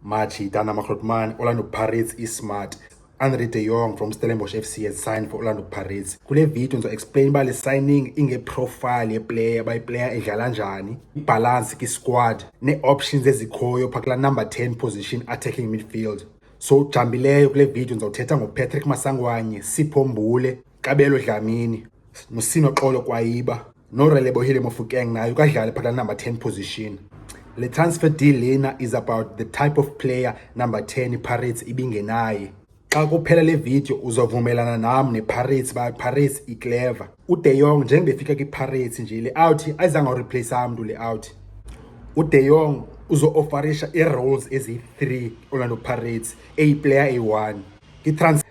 March Dana Makrotman, Orlando Pirates Ismart. Andre de Jong from Stellenbosch FC has signed for Orlando Pirates. Kule video ngizo explain uba le signing ingeprofile yeplayer uba iplayer idlala njani, ibhalansi kwisquad nee-options ezikhoyo phaa kulaa number 10 position attacking midfield. So ujambileyo kule video ndizawuthetha ngoPatrick Masangwanye, Sipho Mbule, Kabelo Dlamini, Musino Xolo Kwayiba, noRelebohile Mofokeng naye ukadlale phakathi number 10 position. Le transfer deal lena is about the type of player number 10 iPirates ibingenaye. Xa kuphela le video uzovumelana nam nePirates ba Pirates iclever. UDe Jong njengoba efika kwiPirates nje le out ayizange ureplace amntu le out. UDe Jong uzo-ofarisha ii-roles eziyi-3 Orlando Pirates eyiplayer eyi-1 ngitransfer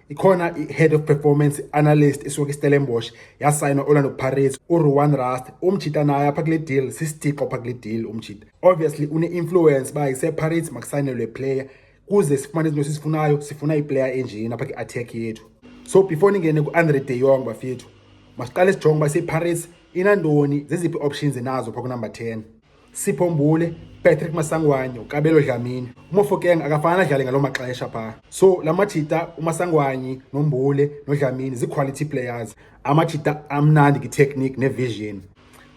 ikhona i-head of performance analyst esuka istellenbosch yasayina orlando pirates uruan rust umjita naye apha kule deal sisitixo apha kule deal umjita obviously une-influence uba isepirates makusayinelwe player kuze sifumane izinto esizifunayo sifuna iplayer enjini apha kwi-attack yethu so before ningene ku-andre de yong bafethu masiqale sijonge uba isepirates inantoni zeziphi options enazo pha kunumber ten Sipho Mbule, Patrick Masangwanye, uKabelo Dlamini. UMofokeng akafana adlale ngaloo maxesha phaa. So la majita uMasangwanye noMbule noDlamini zii-quality players. Amajita amnandi nge-technique ne-vision.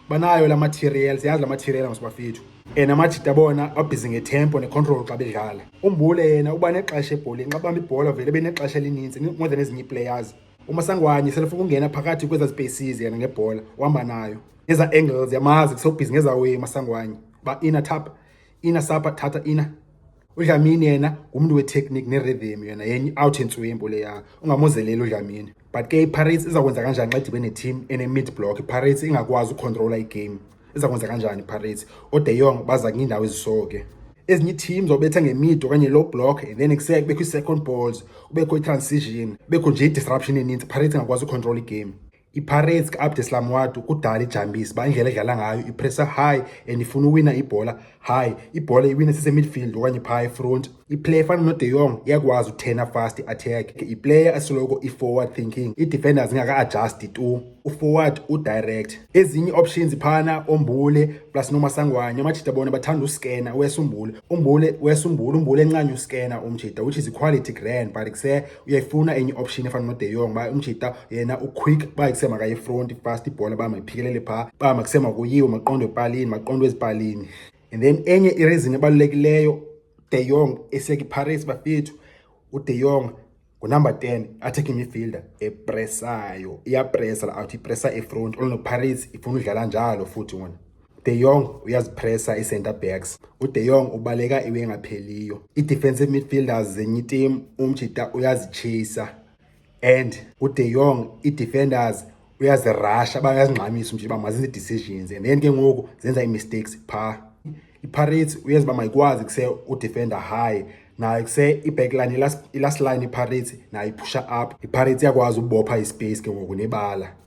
Banayo la material, siyazi la material masibafethu. And amajita bona babhizi ngetempo necontrol xa bedlala. UMbule yena uba nexesha ebholeni, xa bamba ibhola vele benexesha elininzi more than ezinye ii-players. umasangwanye selefuna ukungena phakathi kweza spaces yena ngebhola uhamba nayo ngeza angles yamazi kusobhizi ngeza way masangwanye ba ina tap ina sapa thatha ina udlamini yena ngumntu wetechnique nerhythm yena yenye out entswembo leya ungamozeleli udlamini but ke ipirates izakwenza kanjani xa idibe neteam ene-mid block ipirates ingakwazi ucontrola igame iza kwenza kanjani iPirates ode yong baza kwiindawo ezisoke ezinye iitim zobetha ngemid okanye low block and then kuseke kubekho ii-second balls kubekho i-transition kubekho nje i-disruption eninzi ipirates ingakwazi ucontrol igame ipirates ka-abdeslam wadu kudala ijambisi uba indlela edlala ngayo ipressa high and ifuna uwina ibhola hayi ibhola iwine sisemidfield okanye phaa efront iplayer efana node yong iyakwazi uthena fast attack iplayer asoloko i-forward thinking ii-defenders ingaka-adjasti tu uforward udirect ezinye ii-options phana ombule plus nomasangwanye amajita bona bathanda uskena wesa umbule umbule wesa umbule umbule encanye uskena umjita which is equality grand but kuse uyayifuna enye option efana nodeyong uba umjita yena uquick uba kusema kayifront fast ibhola uba mayiphikelele phaa uba makusema kuyiwe maqondo epalini maqondo ezipalini and then enye ireason ebalulekileyo deyong esiyeka iparis bafethu udeyong ngunumber 10 attacking midfielder epresayo iyapresa la out ipresa efront olnoparis ifuna udlala njalo futhi wona De Jong uyazipresa ii-centre backs. UDe Jong ubaleka iwe engapheliyo. Ii-defensive midfielders zenye itimu umjita uyazitshisa and uDe Jong ii-defenders uyazirasha bayazingxamisa umjita uba mazenze ii-decisions and then ke ngoku zenza ii-mistakes phaa. IPirates uyenza uba mayikwazi kuse udefender high nayo kuse i-backline i-last line iPirates nayo iphusha up. IPirates iyakwazi ubopha ispace ke ngoku nebala.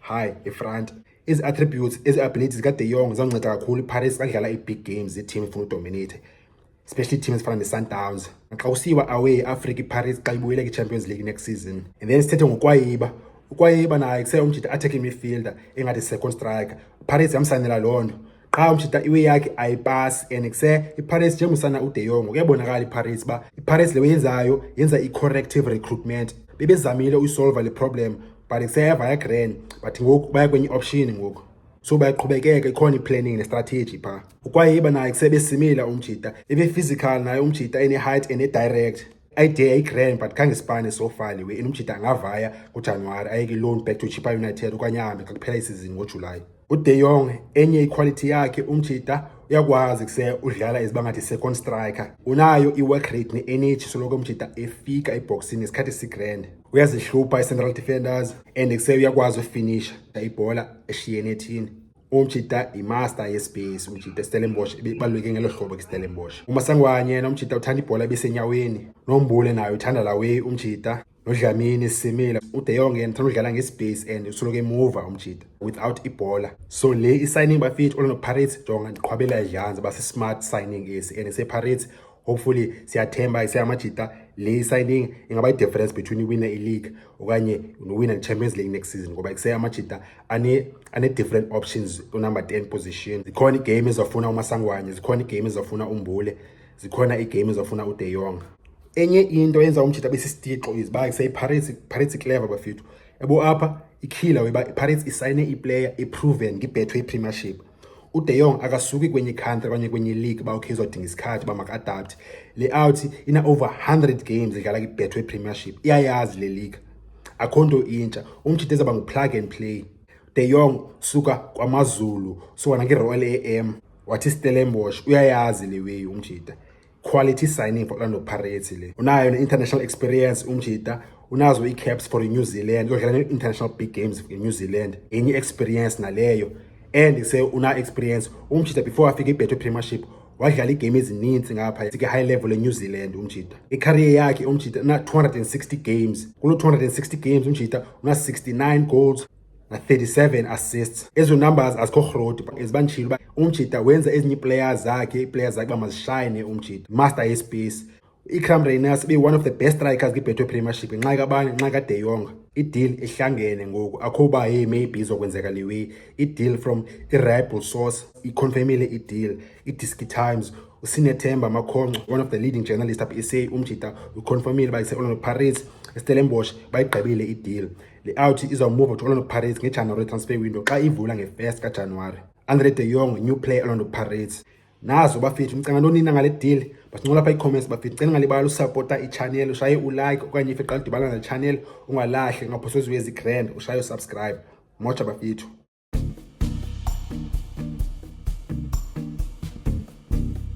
Hi, ifront ezi attributes ezi abilities ka De Jong zanceda kakhulu iParis kadlala i-big games i-team ifuna udominate especially team ezifana ne-Sundowns xa usiwa away i-Africa iParis xa ibuyela kwi-Champions League next season and then sithethe ngokwayiba ukwayiba naye kuse umjita attacking midfielder engathi second striker Paris yamsanela loo nto qha umshita iwe yakhe ayipasi and kuse iPirates njengomusana uDe Jong kuyabonakala iPirates ba iPirates leyo yenzayo yenza i-corrective recruitment bebezamile uyisolva le problem but kuseyeva yagrand but ngoku baya kwenye option ngoku so bayaqhubekeka ikhona i-planning ne-strategy phaa ukwayiba naye kusebesimile umjita ebe-physical naye umjita ene-height ene-direct I dare I grand but khange sipane so far lewe inomjita angavaya kujanuwari ayeke loan back to chipa united okanye ahambe xa kuphela isizini ngojulayi ude yong enye iquality yakhe umjita uyakwazi kuse udlala iziba ngathi second striker unayo i-work rate ne-energy soloko umjita efika ebhoksini ngesikhathi sigrand uyazihlupha i-central defenders and kuse uyakwazi ufinisha ibhola eshiyene ethini umjita yimaster yespace umjita istellenbosch ibaluleke ngelo hlobo ke istellenbosch umasangwanye yena umjita uthanda ibhola ebisenyaweni nombule nayo uthanda lawe umjita nodlamini simile ude yonke yena uthanda udlala ngespace and usoloko emuva umjita without ibhola so le i-signing bafit olonopirates jonga ndiqhwabela idlanza base-smart signing esi and sepirates hopefully siyathemba iseyamajita le i-signing ingaba i-difference between iwina i-league okanye nowina ne-champions league next season ngoba kuseyamajita ane-different options unumber 10 position zikhona iigame ezafuna umasangwanye zikhona iigame ezafuna umbule zikhona iigame ezafuna ude yong enye into yenza umjita abe sisitixo is uba kuseyipirates ipirates iclever bafethu ebo apha ikhila weba ipirates isayine iplayer iproven ngibethwe ipremiership uDe Jong akasuki kwenye country okanye kwenye league uba ukhe izodinga isikhathi uba maka-adapte le out ina-over 100 games idlala kibethwe premiership iyayazi le league akho nto intsha umtshite ezaba ngu-plug and play de Jong suka kwamazulu suka nange-royal a m wathi stellenbosh uyayazi le weyi umjita quality signing for Orlando Pirates le unayo ne-international experience umjita unazo ii-caps for i-new zealand uyodlala ne-international big games i-new zealand enye i-experience naleyo and se una-experience umjita before afike ibetho premiership wadlala iigame ezininzi ngapha sike-high level e-new zealand umjita ikhariye yakhe umjita una-260 games kulo 260 games umjita una-69 goals 37 assists ezo numbers azikho rhodi ezibandishile uba umjita wenza ezinye ii-players zakhe ii-players zakhe uba mazishayine umjita master yespace icram rainers be one of the best strikers kwibhetho premiership nxa kabani nxa kadeyonga ideal ihlangene ngoku akho uba hey maybe izokwenzeka le way ideal from iribal source iconfirmile ideal idisky times usinethemba amakhonco one of the leading journalist apha isa umjita uconfirmile uba ise-orlando pirates estelenbosh bayigqibile ideal Le out izawumuva to Orlando Pirates ngeJanuwari transfer window xa ivula nge-1st kaJanuwari. Andre de Jong new player Orlando Pirates. Nazo bafethu nicinga ntoni nina ngale deal? Basincola pha ii-comments bafethu. Ndicela ngalibali usapota i-channel, ushaye ulike okanye if iqala udibana nale channel ungalahli ungaphoswa eziwe ezi-grand ushaye usubscribe. Moja bafethu.